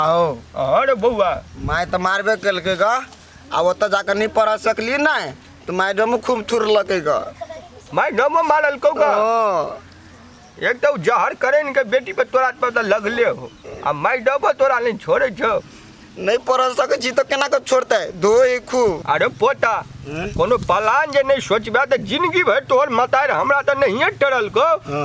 आओ अरे बौआ माय तऽ मारबे केलकै ग आ ओतऽ जाकर नहि पढ़ सकली नहि तऽ मैडमो खूब थुरलकै ग माय डमो मारल कौ का ओ, एक तो जहर करे इनके बेटी पे तोरा पर तो लगले हो आ माय डबो तोरा नहीं छोड़े छो नहि पढ़ सकै छी तऽ केना कऽ छोड़तै धोइ खूब अरे पोता हम्म? कोनो पलान जे नहीं सोचबे तो जिंदगी भर तोहर मतार हमरा तो नहीं टरल को हँ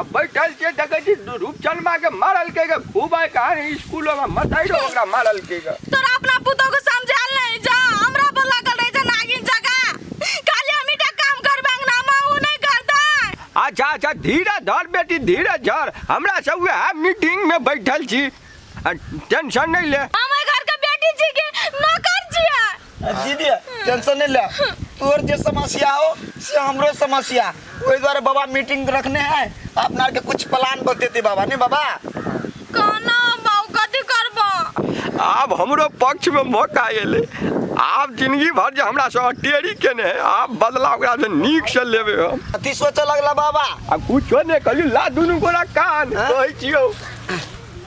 अब बैठल के देखे छी रूपचंदमा के मारल के के खूब आए कहानी स्कूलों में मताइरो ओकरा मारल के के तोरा अपना पुतोह को समझाल नहीं जा हमरा पर लागल रहे जा नागिन जगह खाली हम का काम करबे अंगना में ऊ नहीं करता अच्छा अच्छा धीरे धर बेटी धीरे धर हमरा से उहे मीटिंग में बैठल छी आ, टेंशन नहीं ले हम घर के बेटी जी के नौकर छियै जी दिया टेंशन नहीं ले तोर जे समस्या हो से हमरो समस्या ओहि द्वारे बाबा मीटिंग रखने हैं अपना आर के कुछ प्लान बतेते बाबा नहीं बाबा कहना बाबू कथी करबो आब हमरो पक्ष में मौका एलै आब जिंदगी भर जे हमरा से टेरी केने है आब बदला ओकरा से नीक से लेबे हम अथी सोचऽ लगला बाबा आ कुछो नहि कहली ला दुनू गोरा कान कहै छियौ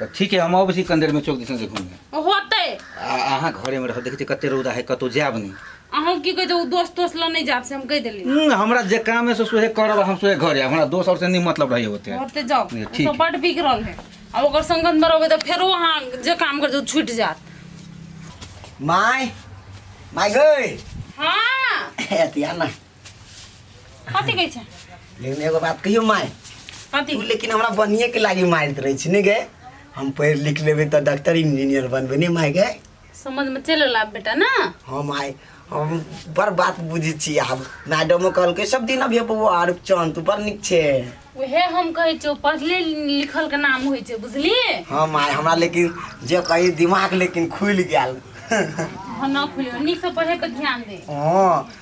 तऽ ठीक है हम अबै छी कनी देर में चौक दिसन से घूम होते आ अहाँ घरे में रह देखै छी कते रौदा है कतौ जायब नहीं अहूँ की कहै छै दोस्त तोस्त लऽ नहि जायब से हम कहि देली हम्म, हमरा जे काम है से सोहे करब हम सोहे घरे आयब। हमरा दोस्त और से नहीं मतलब रही होते है होते जाओ ये ओ ठीक तो है। बड बिगड़ल है आ ओकर संगत में रहबै तऽ फेरो अहाँ जे काम करबै तऽ छूटि जायत माय माय गई हाँ अथी आना कथी कहै छै लेकिन एगो बात कहियो माय कथी तू लेकिन हमरा बनिए के लागी मारैत रहै छी ने गे हम पढ़ि लिख लेबै तऽ डॉक्टर इंजीनियर बनबै ने माय गे समझ में चल ला बेटा ना हाँ माय हम बड़ बात बुझै छी आब मैडमो कहलकै सब दिन अभी बौआ आर चंद तू बड़ नीक छै उहे हम कहै छियौ पढ़ले लिखल के नाम होइ छै बुझली हाँ माय हमरा लेकिन जे कही दिमाग लेकिन खुलि गेल हम ना खुलियो नीक से पढ़े पर ध्यान दे हाँ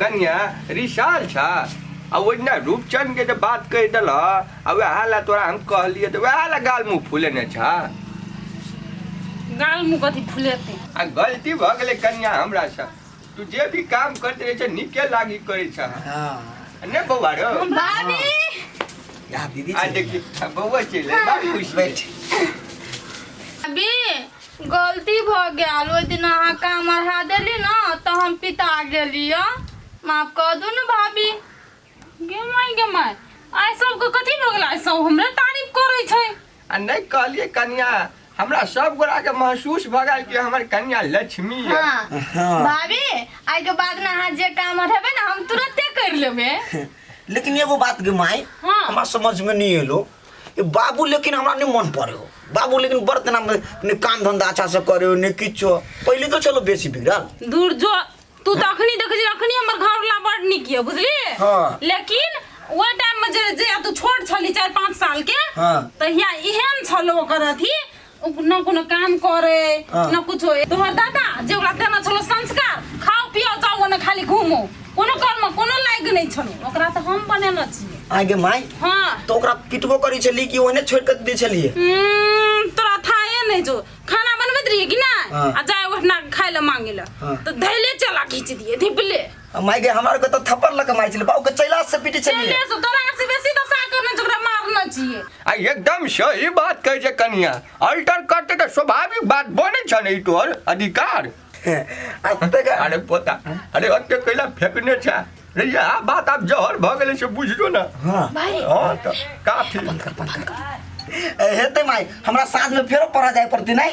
कन्या रिशाल छा आ ओजना रूपचंद के जब बात कह दिल आ वह ला तोरा हम कहलिए तो वह ला गाल मुंह फूले ने छा गाल मुँह कथी फुलेते आ गलती भ गेले कन्या हमरा से तू जे भी काम करते रहे छे नीके लागी करे छा हाँ ने बौआ रो भाभी यहाँ दीदी आ चली देखी बौआ चले बा खुश बैठ भाभी गलती भऽ गेल ओहि दिन अहाँ काम अढ़ा देली ने तऽ हम पिता गेली हँ माफ कऽ दू ने भाभी गे माय गे माय आइ सबके कथी भऽ गेल आइ सब हमरे तारीफ करै छै आ नहि कहलिए कनिया हमरा सब गोरा के महसूस भऽ गेल कि हमर कनिया लक्ष्मी है हाँ हाँ भाभी आइ के बाद ने अहाँ जे काम अढ़ेबै ने हम तुरंते कर लेबै लेकिन एगो बात गे माय हाँ। हमरा समझ में नहीं एलो ई बाबू लेकिन हमरा नहि मन पड़ै हो बाबू लेकिन बड़ तेना ने काम धंधा अच्छा से करे हो ने किछो पहिले तो चलो बेसी बिगड़ल दूर जो तू तऽ अखनी देखै छी अखनी हमर घरवला बड़ नीक यऽ बुझली हाँ। लेकिन ओहि टाइम मे जे जे तू छोट छली चारि पाँच साल के हाँ। तहिया एहन छलो ओकर अथी ना कोनो काम करे हाँ। ना कुछ होए तोहर दादा जे ओकरा देना छलो संस्कार खाओ पियो जाओ ना खाली घूमो कोनो कर्म कोनो लायक नहीं छलो ओकरा तो हम बनेना छिए आगे माय हाँ तो ओकरा पिटबो करी छली कि ओहने छोड़ के दे छलिए हम्म, तोरा थाहे नहीं जो खाना बनबैत रहिए कि ना हाँ। आ जाए ओहिना खाय ले मांगे ले हाँ। तो धैले चला खींच दिए धिपले माय गे हमार के तो थप्पड़ लग मार छिले बाऊ के चैला से पीटी चलिए चले से तोरा से बेसी तो सा करना चाहिए ओकरा मारना चाहिए आ एकदम सही बात कहै छै कनिया अल्टर करते तऽ स्वाभाविक बात बनै छै ने ई तोहर अधिकार अते का अरे पोता अरे अते कैला फेकने छै रे यह बात आब जहर भऽ गेलै से बुझियो ने हां भाई हँ तऽ काफी हेते माय हमरा साथ में फेरो पढ़ा जाए पड़ती नहीं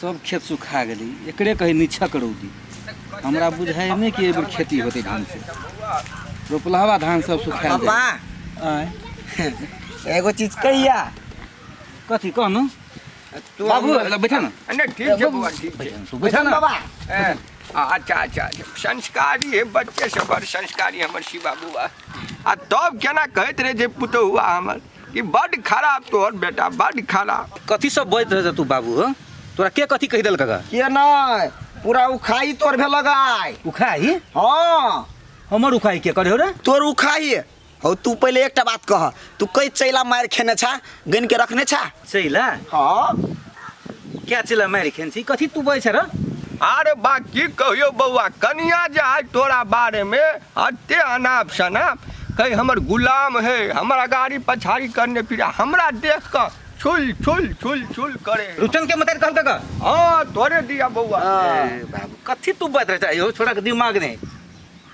सब खेत सुखा गेलै एकरे कहै निछक रौदी हमरा बुझाइ नहि कि एहिबेर खेती होतै धानसँ रोपलहवा धान सब सुखायल पापा जाय। आँय, एगो चीज कहिया कथी कहनु तू बाबू हमरा- बैठा न नहि ठीक छै बौआ ठीक छै तू बैठा न बाबा ए, अच्छा अच्छा अच्छा। संस्कारी है बच्चे से बड़ संस्कारी हमर शिवा बौआ आ तब केना कहैत रहे जे पुतहुआ हमर कि बड खराब तोहर बेटा बड खराब कथी सब बजैत रहे तू बाबू हो तोरा के कथी कहि देलक गा के नहीं पूरा उखाई तोर भेलक आय उखाही हाँ हमर उखाही के करे हो रे तोर उखाई हौ तू पहले एकटा बात कह तू कई चैला मार खेने छा गन के रखने छा चैला हाँ क्या चैला मारि खेन छी कथी तू बजै छै रे अरे बा की कहियो बौआ कनिया जे आइ तोरा बारे में अते अनाप शनाप कहीं हमर गुलाम है हमरा गाड़ी पछाड़ी करने फिर हमरा देख कर छुल छुल छुल छुल करे रुचन के मतार कहल का हाँ तोरे दिया बौआ ए, बाबू कथी तू बात रहे छै यो छोरा के दिमाग नहीं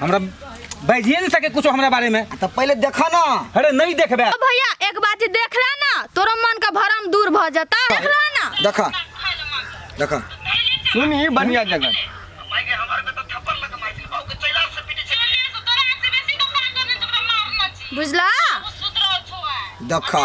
हमरा बजिए नहीं सके कुछ हमरा बारे में तो पहले देखा ना अरे नहीं देखबे ओ भैया एक बात देख रहा ना तोरा मन का भरम दूर भ जाता देख रहा ना देखा देखा सुन ही बढ़िया जगह बुझला देखा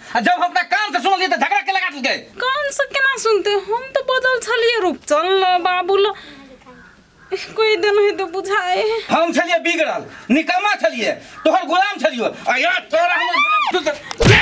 आ जब हम अपना कान से सुनलिए तो झगड़ा के लगा देलके कान से केना सुनते हम तो बदल छलिए रूप चल ल बाबू ल कोई दिन है तो बुझाए हम छलिए बिगड़ल निकम्मा छलिए तोहर गुलाम छलियो आ या तोरा हमर गुलाम तू तो- ले!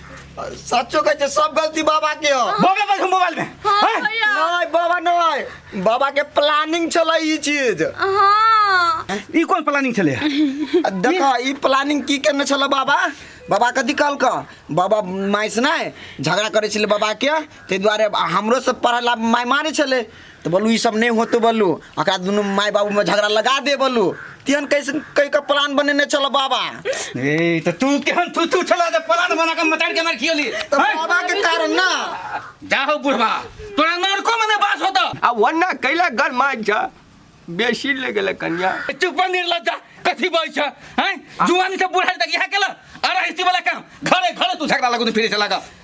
सच्चो कहै छै सब गलती बाबा के हो बोबे पर मोबाइल में हाँ हैं? भैया नहीं बाबा नहीं बाबा के प्लानिंग चला ई चीज हाँ ई कोन प्लानिंग छले देखा ई प्लानिंग की करने छला बाबा बाबा कथी कहल का बाबा माइस नहीं झगड़ा करे छले बाबा के ते द्वारे हमरो से पढ़ला माय मारे छले तऽ बोलू ई सब नहि होतौ बोलू एकरा दुनू माय बाबूमे झगड़ा लगा दे बोलू तेहन कैसे कहि कऽ प्लान बनेने छलऽ बाबा ए तऽ तू केहन तू तू छला जे पलान बना के मतार के मार खियली तऽ बाबा के कारण ना जा हो बुढ़वा तोरा नरको में ना बास होता आ वरना कैला गर मार जा बेसी ले गेल कन्या चुप निर्लज्जा कथी बोल छ हैं जुआनी से बुढ़ा तक यहाँ केला अरे हिस्ती वाला काम घरे घरे तू झगड़ा लगो तू फिरे चला गा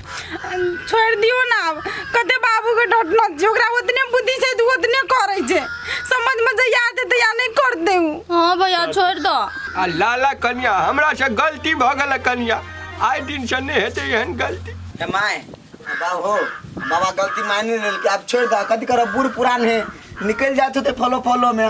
छोड़ि दियौ ने आब कते बाबूके डटना छै ओकरा ओतने बुद्धि छै तऽ ओतने करै छै समझमे जहिया एतै तहिया नहि करतै ओ हाँ भैया छोड़ दो आ लाला कनिया हमरा से गलती भऽ गेल कनिया आइ दिन से नहि हेतै एहन गलती हे माय हे बाबू बाबा गलती मानि लेलकै आब छोड़ि दह कथी करब बूढ़ पुरान है निकलि जाए होते फलो फलो में